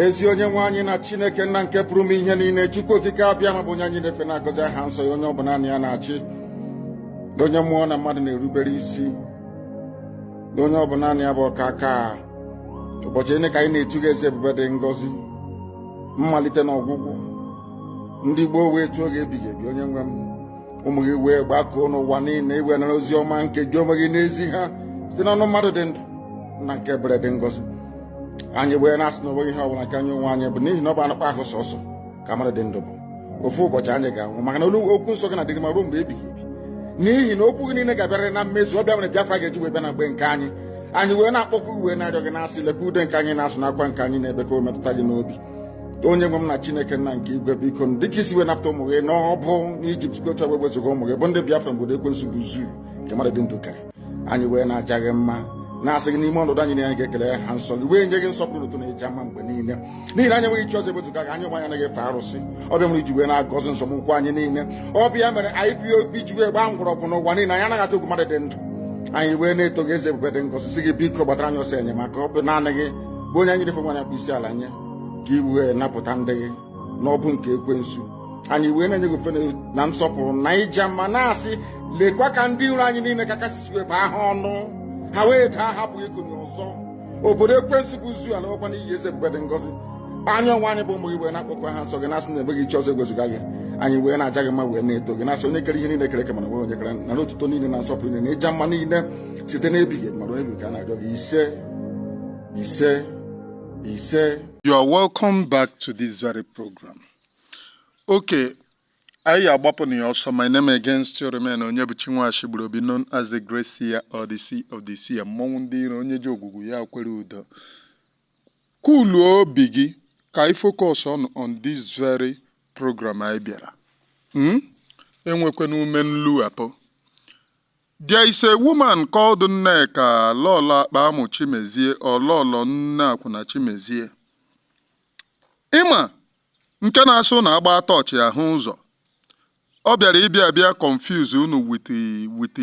ezi onye nwe anyị na chineke nna nke pụrụ ime ihe niile chukwu okike abịama bụ onye anyị na-efe na-agọzi aha nsọ ya onye ọ bụ naanị ya na-achị onye mmụọ na mmadụ na-erubere isi onye ọ bụ naanị ya bụ ọkaka ụbọchị niile ka anyị na-etu gị aha eze ebube dị ngọzi mmalite na ọgwụgwụ ndị gboo wee tuo gị aha ebighị ebi onye nwe m ụmụ gị wee gbakọọ n'ụwa niile i wee nara ozi ọma nke gị onwe gị na-ezi ha site n'ọnụ mmadụ dị ndụ nna nke ebere dị ngọzi anyị wee na-asị na onweghị ihe ọbụla nke anyị onwe anyị bụ n'ihi na ọ bụ anụkpa ahụ sọsọ ka mmadụ dị ndụ bụ ofu ụbọchị anyị ga-anwụ maka na olu okwu nsọ gị na-adịrị ma ruo mgbe ebighị ebi n'ihi na okwu gị niile ga-abịarịrị na mmezu ọ bụ ya mere Biafra ga-eji wee bịa na mgbe nke anyị anyị wee na-akpọku wee na-arịọ gị na-asị lekwa ude nke anyị na-asụ na akwa nke anyị na-ebe ka o metụta gị n'obi onye nwe m na chineke nna nke igwe biko dịka i si wee napụta ụmụ gị n'ọbụ n'ijipt site otu wee wezuga ụmụ gị bụ ndị biafra n'obodo ekwensu bụ zoo nke mmadụ dị ndụ kere anyị wee na-aja gị mma na-asị gị n'ime ọnọdụ anyị na anyị ga-ekele aha nsọ gị wee nye gị nsọpụrụ na otuto na ịja mma mgbe niile n'ihi na anyị enweghị chi ọzọ ewezuga gị anyị onwe anyị anaghị efe arụsị ọ bụ ya mere i ji wee na-agọzi nzọmụkwụ anyị niile ọ bụ ya mere IPOB ji wee gbaa mgbọrọgwụ n'ụwa niile anyị anaghị atụ egwu mmadụ dị ndụ anyị wee na-eto gị eze ebube dị ngọzi sị gị biko gbatara anyị ọsọ enyemaka ọ bụ naanị gị bụ onye anyị na-efe onye anyị na-akpọ isi ala nye ka i wee napụta ndị gị n'ọbụ nke ekwensu anyị wee na-enye gị ofufe na nsọpụrụ na ịja mma na-asị lekwa ka ndị iro anyị niile ka aka si wee baa ha ọnụ ha wee daa hapụ ikunie ọzọ obodo ekwensu bụ zoo alakwa n'iyi eze ebube dị ngọzi anyị onwe anyị bụ ụmụ gị wee na-akpọku aha nsọ gị na-asị na enweghị chi ọzọ ewezuga gị anyị wee na-aja gị mma wee na-eto gị na-asị onye kere ihe niile e kere eke mana enweghị onye kere nara otuto niile na nsọpụrụ niile na ịja mma niile site n'ebighị ebi ma ruo ebi ka a na-arịọ gị ise ise ise you are welcome back to this very program okay anyị agbapụ na ya ọsọ my name again still remain onyebuchi nwashi gburu obi known as the great seer or the seer of the seer mmọnwụ ndị iro onye ji ogwugwu ya kwere udo kuluo obi gị ka anyị focus on on this very program anyị bịara hmm? enwekwana ume nlughapụ There is a woman called Nneka Lolo Akpamụ Chimezie or Lolo Nne Akwụna Chimezie. Ị ma nke na-asụ unu agba tọọchị ahụ ụzọ. Ọ bịara ịbịa abịa confuse unu with with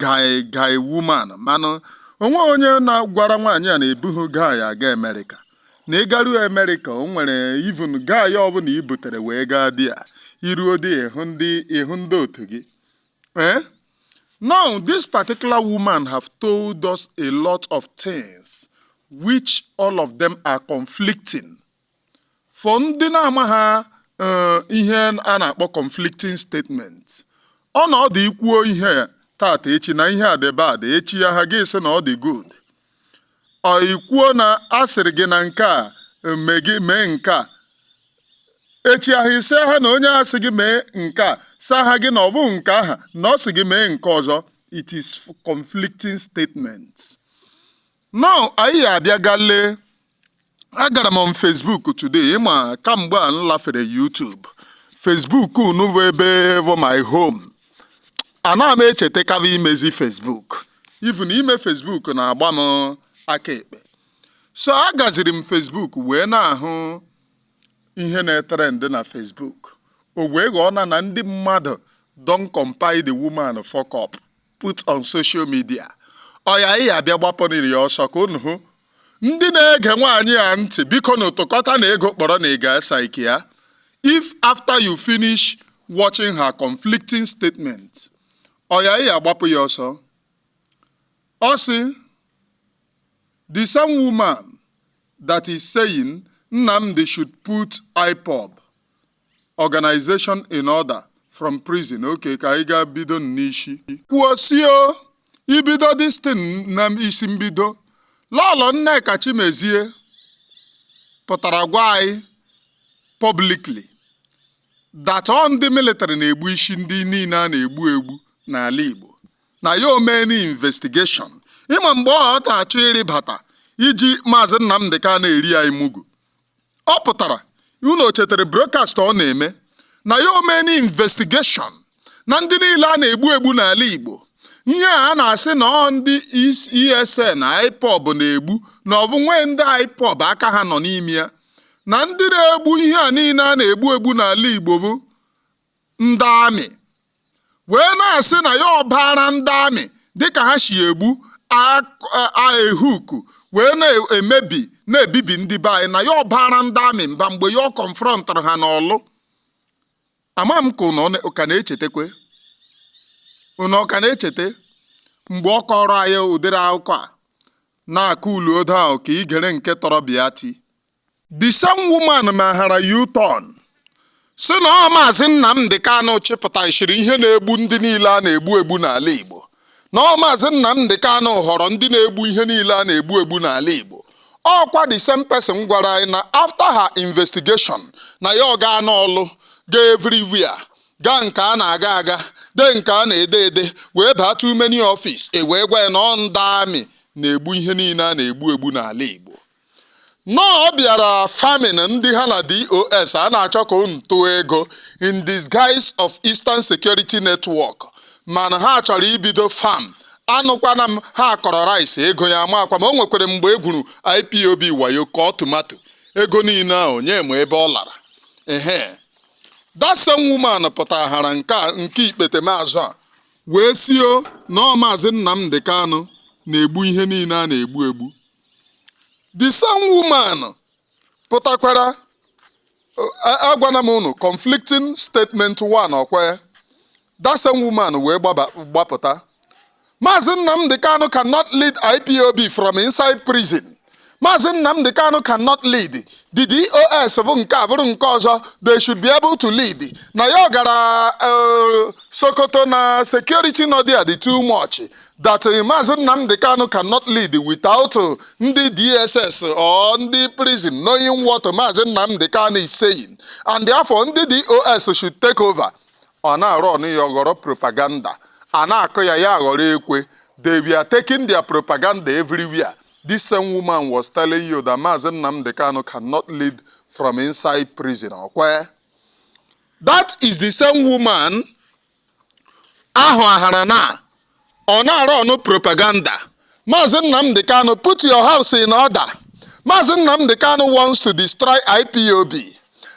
guy guy woman mana o nwe onye na-agwara nwaanyị a na ebughị guy aga Amerịka. Na ị garuo Amerịka o nwere even guy ọbụla i butere wee gaa there i ruo there ị hụ ndị ị hụ ndị otu gị Eh? Now, this particular woman have told us a lot of things which all of them are conflicting. For ndị na-amaha ihe a na-akpọ conflicting statement. Ọ na ọ dị i kwuo ihe tata echi na ihe a dị bad echi aha gị sị na ọ dị good. i kwuo na a sịrị gị na nke a mee nke a echi ahụ ị sị ha na onye a sị gị mee nke a saha gị na ọ bụ nke aha na ọ sị gị mee nke ọzọ it is conflicting statements now anyị abịa gaa lee agara m on Facebook today ị ma kamgbe a m lafere YouTube Facebook unu bụ ebe bụ my home ana m echetakaba imezi Facebook even ime Facebook na-agba m aka ekpe so agaziri m Facebook wee na-ahụ ihe na-etrend na Facebook o wee ghọọ na na ndị mmadụ don compile the woman fuck up put on social media ọya ị ya abịa gbapụrịrị ya ọsọ ka unu hụ ndị na-ege nwaanyị a ntị biko nụ tụkọtanụ ego kpọrọ nwaanyị gaa psychia if after you finish watching her conflicting statement ọya ị ya agbapụ ya ọsọ ọ sị the same woman that is saying Nnamdi should put IPOB organization in order from prison okay ka anyị gaa bido n'isi ka o si bido this thing na isi mbido lọlọ nneka chimezie pụtara gwa anyị publicly that ọ ndị military na-egbusi ndị niile a na-egbu egbu n'ala igbo na ya o meene investigation ị ma mgbe ọ ka-achọ ịrịbata iji maazị nnamdị kanu eri anyị mugu ọ pụtara unu chetara broadcast ọ na-eme na ya o meene investigation na ndị niile a na-egbu egbu n'ala Igbo ihe a na-asị na ọ ndị ESN na IPOB na-egbu na ọ bụ nwee ndị IPOB aka ha nọ n'ime ya na ndị na-egbu ihe a niile a na-egbu egbu n'ala Igbo bụ ndị army wee na-asị na ya ọ baara ndị army dịka ha si egbu aehuku wee na-emebi na-ebibi ndị be anyị na ya ọ baara ndị army mba mgbe ya ọ confrontụrụ ha n'Ọlụ ama m ka ụnụ ka na-echetakwe ụnụ ka na-echeta mgbe ọ kọrọ anyị ụdịrị akụkọ a na-akụ uluodo ahụ ka igere nke tọrọ Biati the same woman mahara u-turn sị na ọ maazị Nnamdi Kanu chịpụtachiri ihe na-egbu ndị niile a na-egbu egbu n'ala Igbo na ọ maazị Nnamdi Kanu họrọ ndị na-egbu ihe niile a na-egbu egbu n'ala Igbo ọ kwa the same person gwara anyị na after her investigation na ya ọ gaa n'Ọlụ gaa everywhere gaa nke a na-aga aga dee nke a na-ede ede wee baa too many office e wee gwa ya na ọ ndị army na-egbu ihe niile a na-egbu egbu n'ala Igbo now ọ bịara farming ndị ha na DOS a na-achọ ka unu tụọ ego in disguise of Eastern Security Network mana ha chọrọ ibido farm anụkwana m ha kọrọ rice ego ya amakwa m ma o nwekwara mgbe e gwuru IPOB wayo kọọ tomato ego niile ahụ onye ma ebe ọ lara ehe that same woman pụtahara nke a nke ikpete maazụ a wee sio na ọ maazị Nnamdi Kanu na-egbu ihe niile a na-egbu egbu the same woman pụtakwara agwana m unu conflicting statement one ọkwa ya That same woman wee gbaba gbapụta. Maazị Nnamdi Kanu cannot lead IPOB from inside prison. Maazị Nnamdi Kanu cannot lead. The DOS bụ nke a bụrụ nke ọzọ they should be able to lead. Na ya ọ gara eh, Sokoto na security nọ there dị too much that eh, Maazị Nnamdi Kanu cannot lead without eh, ndị DSS or ndị prison knowing what Maazị Nnamdi Kanu is saying and therefore ndị DOS should take over. ọ na-arụ ọnụ ya aghọrọ propaganda a na-akụ ya ya aghọrọ ekwe they were taking their propaganda everywhere this same woman was telling you that Maazị Nnamdi Kanu cannot lead from inside prison ọkwa that is the same woman ahụ ahara na ọ na-arụ ọnụ propaganda maazị Nnamdi Kanu put your house in order maazị Nnamdi Kanu wants to destroy IPOB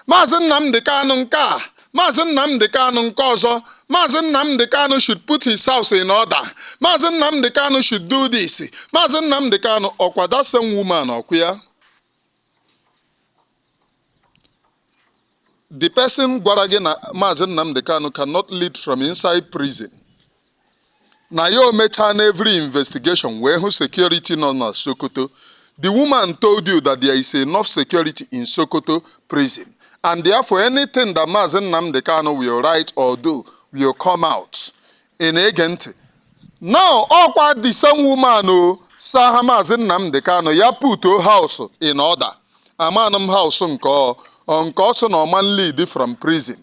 maazị Nnamdi Kanu nke a maazị Nnamdi Kanu nke ọzọ maazị Nnamdi Kanu should put his house in order maazị Nnamdi Kanu should do this maazị Nnamdi Kanu ọkwa that same woman ọkwa ya the person gwara gị na Maazị Nnamdi Kanu cannot lead from inside prison na ya emechaana every investigation wee hụ security nọ na Sokoto the woman told you that there is enough security in Sokoto prison and therefore anything that Maazị Nnamdi Kanu will write or do will come out ị na-ege ntị now ọkwa the same woman o sa ha maazị Nnamdi Kanu ya put house in order amanụ m house nke ọ ọ nke ọ sị na ọman lead from prison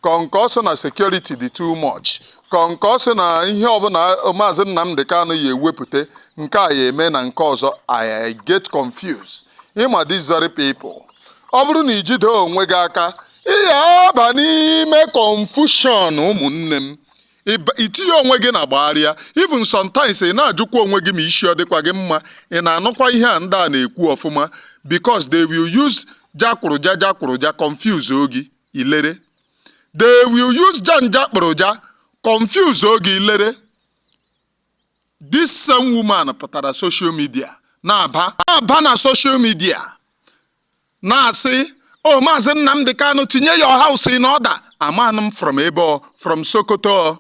ka ọ nke ọ sị na security dị too much ka ọ nke ọ sị na ihe ọbụla maazị Nnamdi Kanu ya ewepụta nke a ya eme na nke ọzọ I I get confused ịma these very people ọ bụrụ na ijide onwe gị aka ị ya aba n'ime confusion ụmụnne m itinye onwe gị na gbagharịa even sometimes ị na-ajụkwa onwe gị ma isi ọ dịkwa gị mma ị na-anụkwa ihe a ndị a na-ekwu ọfụma because they will use jakpụrụja jakpụrụja confuse ogi ilere they will use janja kpụrụja confuse ogi ilere this same woman pụtara social media na-aba na-aba na social media na-asị o maazị Nnamdi Kanu tinye your house in order amanụ m from ebe ọ from Sokoto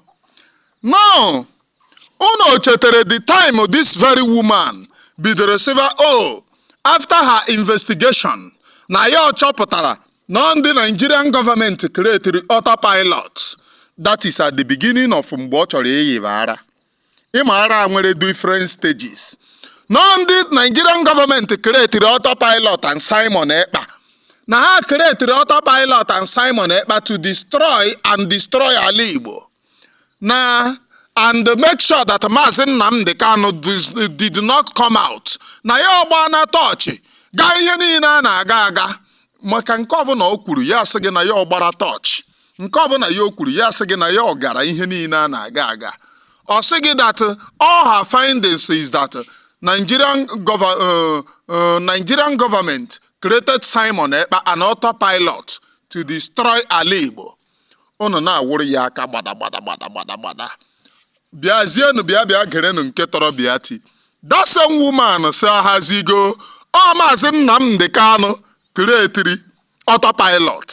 now unu chetere the time this very woman bidoro sịba o after her investigation na ya ọ chọpụtara na ọ ndị Nigerian government creatiri autopilot that is at the beginning of mgbe ọ chọrọ iyiba ara ịma ara nwere different stages na ọ ndị nigerian government creatiri autopilot and simon ekpa na ha creatiri autopilot and simon ekpa to destroy and destroy ala igbo na and make sure that maazị nnamdi kanu dis- did not come out na ya ọgbaana tọọchị gaa ihe niile a na-aga aga maka nke ọbụla o kwuru ya sị gị na ya ọgbara tọọchị nke ọbụla ya o kwuru ya sị gị na ya ọ gara ihe niile a na-aga aga ọ sị gị that all her findings is that Nigerian government uh, uh, Nigerian government created Simon Ekpa and autopilot to destroy ala Igbo unu na-awụrụ ya aka gbada gbada gbada gbada gbada bịazienụ bịa bịa gerenụ nke tọrọ Biati that same woman sị ahazigo ọ maazị Nnamdi Kanu creatiri autopilot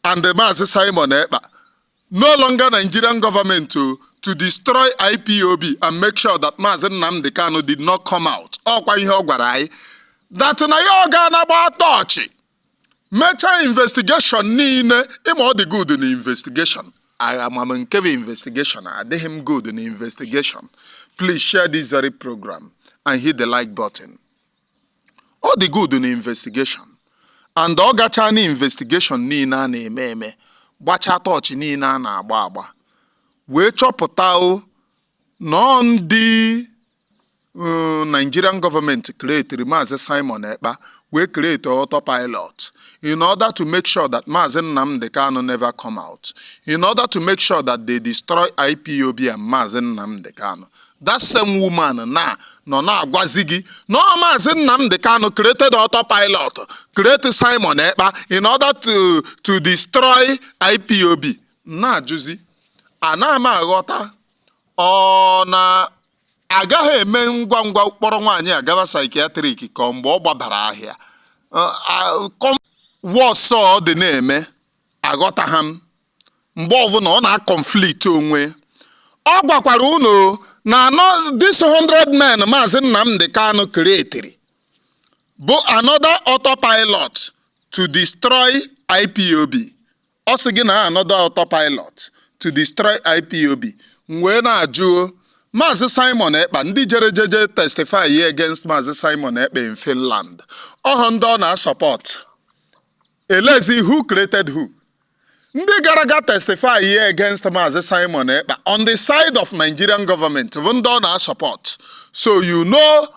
and Maazị Simon Ekpa no longer Nigerian government to to destroy IPOB and make sure that Maazị Nnamdi Kanu did not come out ọkwa ihe ọ gwara anyị that na ya ọ gaana gbaa tọọchị mechaa investigation niile ịma ọ dị good na investigation amaghị m nke bụ investigation adịghị m good na investigation please share this very program and hit the like button. ọ dị good na investigation and ọ gachaa na investigation niile a na-eme eme gbachaa tọọchị niile a na-agba agba wee chọpụta o na ọ ndị mm, Nigerian government creatiri Maazị Simon Ekpa wee create autopilot in order to make sure that Maazị Nnamdi Kanu never come out in order to make sure that they destroy IPOB and Maazị Nnamdi Kanu that same woman na nọ na-agwazi gị na ọ maazị Nnamdi Kanu created autopilot create Simon Ekpa in order to to destroy IPOB na-ajụzi ana m aghọta ọ na a gaghị eme ngwa ngwa kpọrọ nwaanyị a gaba psychiatric ka mgbe ọ gbabara ahịa wọsọ dị na-eme aghọtaghị m mgbe ọbụla ọ na-aconflict onwe ọ gwakwara unu na this 100 men maazị Nnamdi Kanu createri bụ another autopilot to destroy IPOB ọ sị gị na another autopilot to destroy IPOB m wee na-ajụ Maazị Simon Ekpa ndị jere jeje testify ye against Maazị Simon Ekpa in Finland ọ bụ ndị ọ na-asupport Elezi who created who? Ndị gara aga testify ihe against Maazị Simon Ekpa on the side of Nigerian government bụ ndị ọ na-asupport. So you know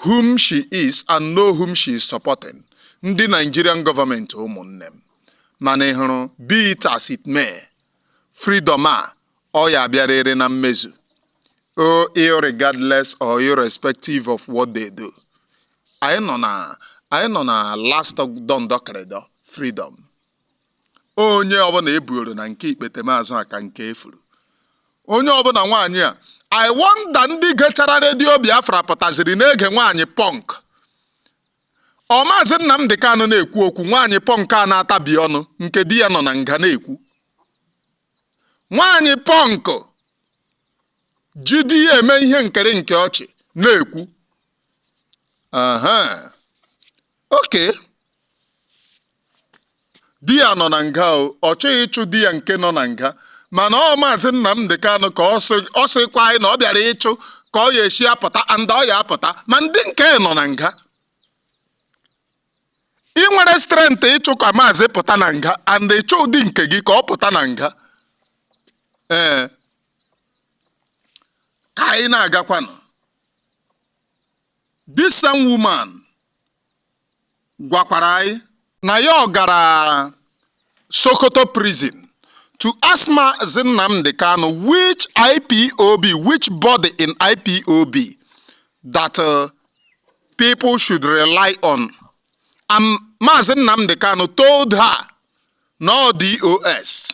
whom she is and know whom she is supporting. Ndị Nigerian government ụmụnne m. Mana ị hụrụ be it as it may, freedom a ọ ya abịarịrị na mmezu. O irregardless or irrespective of what they do. anyị nọ na anyị nọ na last dọndọkịrịdọ freedom onye ọbụla ebuoro na nke ikpetemazụ a ka nke efuru onye ọbụla nwaanyị a i wonder ndị gechara Redio Biafra pụtaziri na-ege nwaanyị punk ọ Maazị Nnamdi Kanu na-ekwu okwu nwaanyị punk a na-atabi ọnụ nke di ya nọ na nga na-ekwu nwaanyị punk ji di ya eme ihe nkiri nke ọchị na-ekwu aha okay di ya nọ na nga o ọ chọghị ịchụ di ya nke nọ na nga mana ọ maazị Nnamdi Kanu ka ọ sị- ọ sịkwa anyị na ọ bịara ịchụ ka ọ ya esi apụta and ọ ya apụta ma ndị nke nọ na nga ị nwere strength ịchụ ka maazị pụta na nga and ịchụ di nke gị ka ọ pụta na nga ee ka anyị na-agakwanụ This same woman gwakwara anyị na ya gara Sokoto prison to ask Mazi Nnamdi Kanu which IPOB, which body in IPOB that uh, people should rely on. And Mazi Nnamdi Kanu told her no DOS.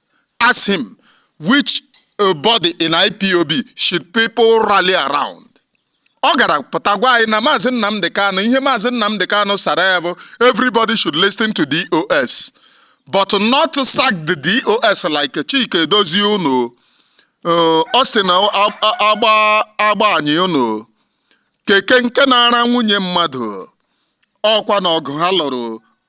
asked him which uh, body in IPOB should people rally around. Ọ gara pụta gwa anyị na Maazị Nnamdi Kanu ihe Maazị Nnamdi Kanu sara ya bụ everybody should listen to DOS but not sack the DOS like Chika Edoziem unu. Uh, Austin Agbanyim unu keke nke na-ara nwunye mmadụ ọkwa na ọgụ ha lụrụ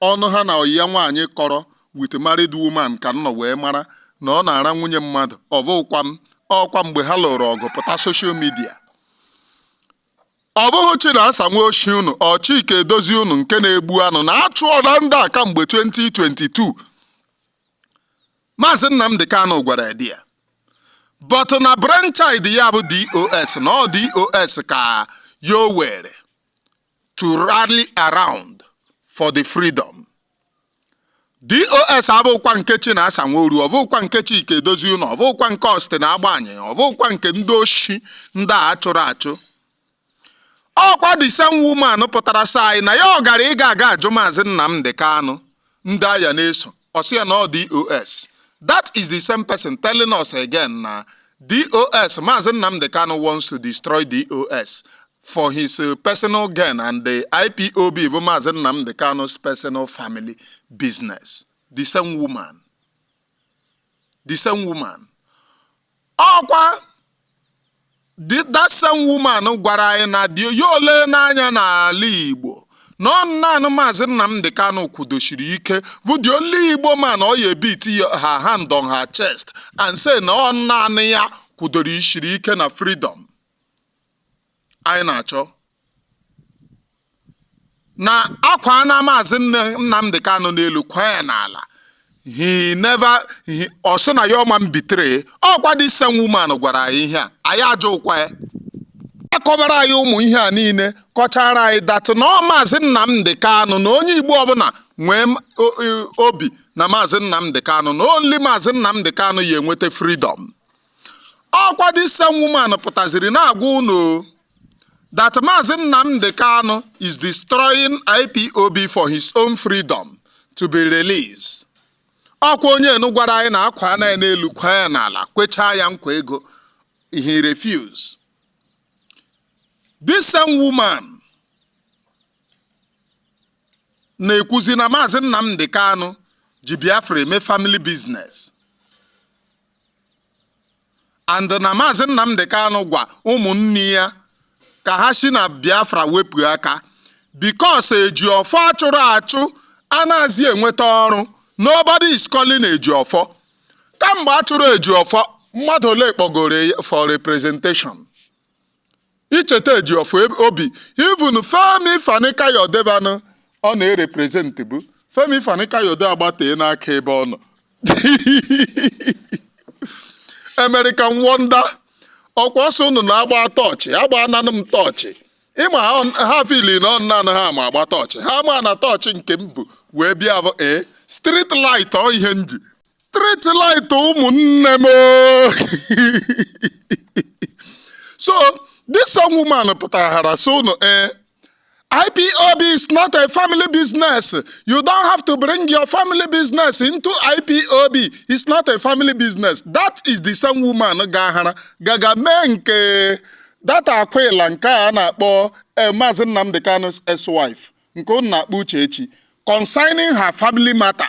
ọnụ ha na ọyị ya nwaanyị kọrọ with married woman ka m nọ wee mara na ọ na-ara nwunye mmadụ ọbụkwa m ọkwa mgbe ha lụrụ ọgụ pụta social media ọ bụghị Chinasa nwa oshi unu ọ Chika Edoziem unu nke na-egbu anụ na-achụ ọra ndị a kamgbe 2022 Maazị Nnamdi Kanu gwara di ya but na brainchild ya bụ DOS na ọ DOS ka ya o were to rally around for the freedom. DOS abụkwa nke Chinasa Nworu ọbụkwa nke Chika Edoziem ọbụkwa nke Austin Agbanyim ọbụkwa nke ndị oshi ndị a chụrụ achụ ọkwa the same woman pụtara sị anyị na ya ọ gara ịga aga ajụ maazị Nnamdi Kanu ndị a ya na-eso ọ sị ya na ọ DOS that is the same person telling us again na DOS maazị Nnamdi Kanu wants to destroy DOS for his uh, personal gain and the IPOB bụ maazị Nnamdi Kanu's personal family business the same woman the same woman ọkwa that same woman gwara anyị na dị ya ole n'anya n'ala Igbo na ọ naanị maazị Nnamdi Kanu kwudoshiri ike bụ the only Igbo man ọ ya e-beat her hand on her chest and say na ọ naanị ya kwudoro ishiri ike na freedom anyị na-achọ na akwaana maazị Nnamdi Kanu n'elu kwaa ya n'ala ọ sị na ya ọ ma betray ọkwa this same woman gwara anyị ihe a anyị ajụkwa ya akọbara anyị ụmụ ihe a niile kọchara anyị that na ọ maazị Nnamdi Kanu na onye Igbo ọbụla nwee obi na maazị Nnamdi Kanu na only maazị Nnamdi Kanu ya enweta freedom ọkwa this same woman pụtaziri na-agwa unu that Maazị Nnamdi Kanu is destroying IPOB for his own freedom to be released. ọkwa onye enu gwara anyị na akwaana ya n'elu kwaa ya n'ala kwechaa ya nkwa ego he refuse this same woman na-ekwuzi na maazị Nnamdi Kanu ji Biafra eme family business and na maazị Nnamdi Kanu gwa ụmụnne ya ka ha si na Biafra wepụ aka because Ejiofor achụrụ achụ anaghịzi enweta ọrụ nobody is calling Ejiofor kamgbe achụrụ Ejiofor mmadụ ole kpọgoro ya for representation icheta Ejiofor eb- obi even Femi Fani-Kayode banụ ọ na-erepresent bụ Femi Fani-Kayode agbatee n'aka ebe ọ nọ American Wonder ọkwa ọ sọ unu na-agba torch gbananụ m torch ị ma ha ọ- ha feel na ọ naanị ha ma agba torch ha ma na torch nke m bu wee bịa bụ ee street light ọ ihe m ji street light ụmụnne m so this young woman pụtara hara so unu ee IPOB is not a family business. You don't have to bring your family business into IPOB. It's not a family business. That is the same woman gahara gaga mee nke that akwụla nke a na-akpọ eh, Maazị Nnamdi Kanu's ex-wife nke unu na-akpọ Uchechi concerning her family matter.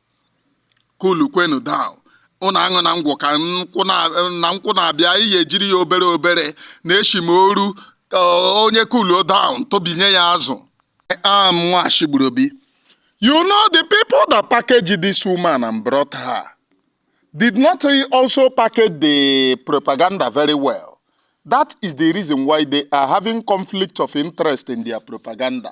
kulu kwenu down ụnụ aṅụna ngwọ ka nkwụ na na nkwụ na-abịa ihe ejiri ya obere obere na-eshi m oru ka onye kulu down tobinye ya azụ am nwashi gburu obi you know the people that packaged this woman and brought her did not also package the propaganda very well that is the reason why they are having conflict of interest in their propaganda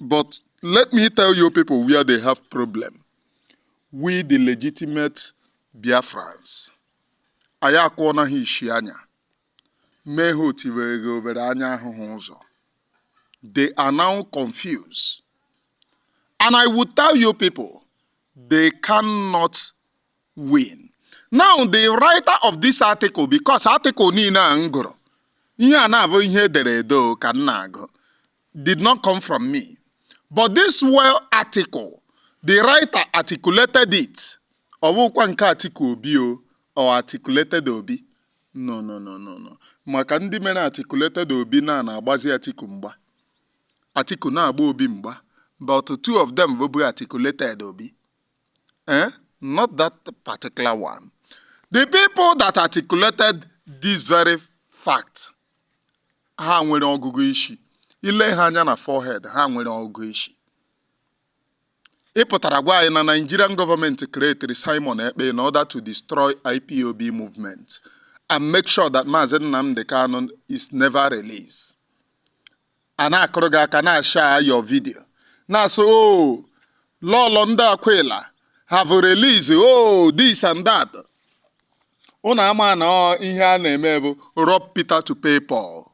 But let me tell you people where they have problem. We the legitimate Biafrans. Anyị akụọna ha ishi anya. Mee ha otivere gị obere anya ahụhụ ụzọ. They are now confused. And I will tell you people, they cannot win. Now the writer of this article, because article niile a m gụrụ, ihe a na-abụ ihe edere ede ka m na-agụ. did not come from me, but this well article, the writer articulated it. Ọ bụkwa nke Atiku Obi or Atikulated Obi. No, no, no, no, no. Maka ndị mere Atikulated Obi na na-agbazi Atiku mgba. Atiku na-agba Obi mgba. But two of them bụ Atikulated Obi. Eh? Not that particular one. The people that articulated this very fact ha nwere ọgụgụ isi i lee ha anya na forehead ha nwere ọgụgụ isi ị pụtara gwa anyị na Nigerian government creatiri Simon Ekpa in order to destroy IPOB movement and make sure that Maazị Nnamdi Kanu is never released. a na-akụrụ gị aka na-ashare your video na-asị o oh, lọlọ ndị akwụla have released o oh, this and that ụnụ ama na ihe a na-eme bụ rob Peter to pay Paul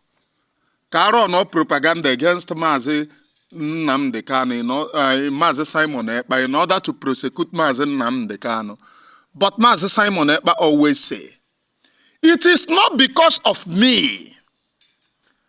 ka a runụọ propaganda against maazị Nnamdi Kanu eh, maazị Simon Ekpa in order to prosecute maazị Nnamdi Kanu but maazị Simon Ekpa always say it is not because of me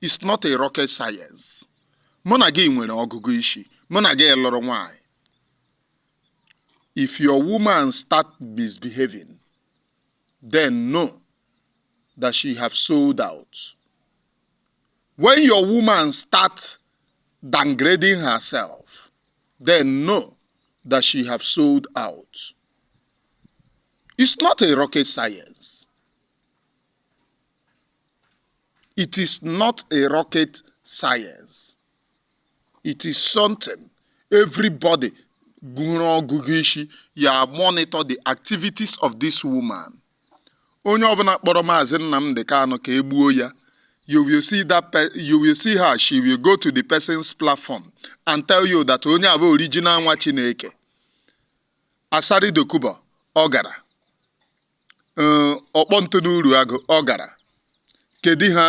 it's not a rocket science mụ na gị nwere ọgụgụ isi mụ na gị lụrụ nwanyị if your woman start misbehaving then know that she have sold out when your woman start downgrading herself then know that she have sold out it's not a rocket science It is not a rocket science. It is something everybody gụrụ ọgụgụ isi ya monitor the activities of this woman. Onye ọbụla kpọrọ Maazị Nnamdi Kanu ka e gbuo ya you will see her she will go to the person's platform and tell you that onye a bụ original nwa Chineke Asari Dokubo ọ gara eh, ọkpọ ntụ n'uru agụ ọ gara kedu ha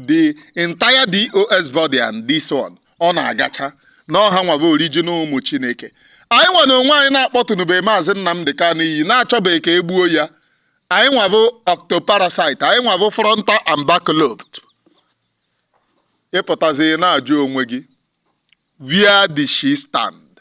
the entire DOS body and this one ọ na-agacha na ọ ha nwa bụ original ụmụ chineke anyị nwa na onwe anyị na-akpọtụnube maazị nnamdi kanu iyi na-achọbeghị ka e gbuo ya anyị nwa bụ ectoparasite anyị nwa bụ frontal and back lobe ị pụtazi na-ajụ onwe gị where did she stand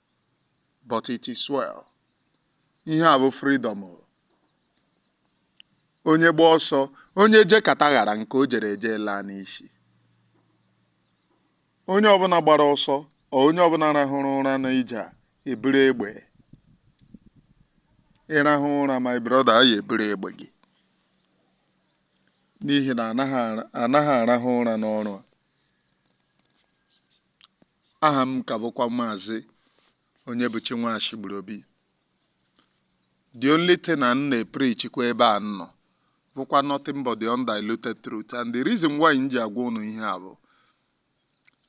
but it is well ihe a bụ freedom onye gba ọsọ onye je kata ghara nke o jere eje laa n'isi onye ọbụla gbara ọsọ ọ onye ọbụla rahụrụ ụra n'ije a e buru egbe ị rahụ ụra my brother a ya-eburu egbe gị n'ihi na anaghị ara- anaghị arahụ ụra n'ọrụ a aha m ka bụkwa maazị Onyebuchi Nwashigburuobi the only thing na m na-epreachikwa ebe a nọ bụkwa nothing but the undiluted truth and the reason why m ji agwa ụnụ ihe a bụ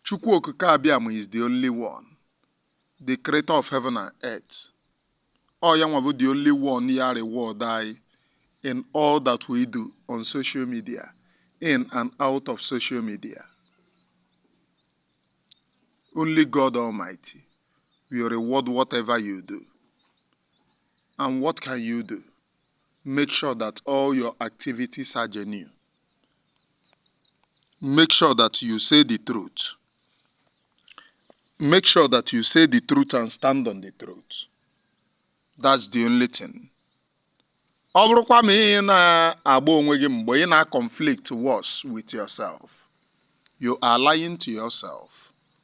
Chukwu Okike Abịama is the only one the creator of heaven and earth ọ ya nwa bụ the only one ya reward anyị in all that we do on social media in and out of social media only God Almighty will reward whatever you do and what can you do make sure that all your activities are genuine. Make sure that you say the truth. Make sure that you say the truth and stand on the truth. That's the only thing. ọ bụrụkwa ma ị na-agba onwe gị mgbe ị na-conflict worse with yourself you are lying to yourself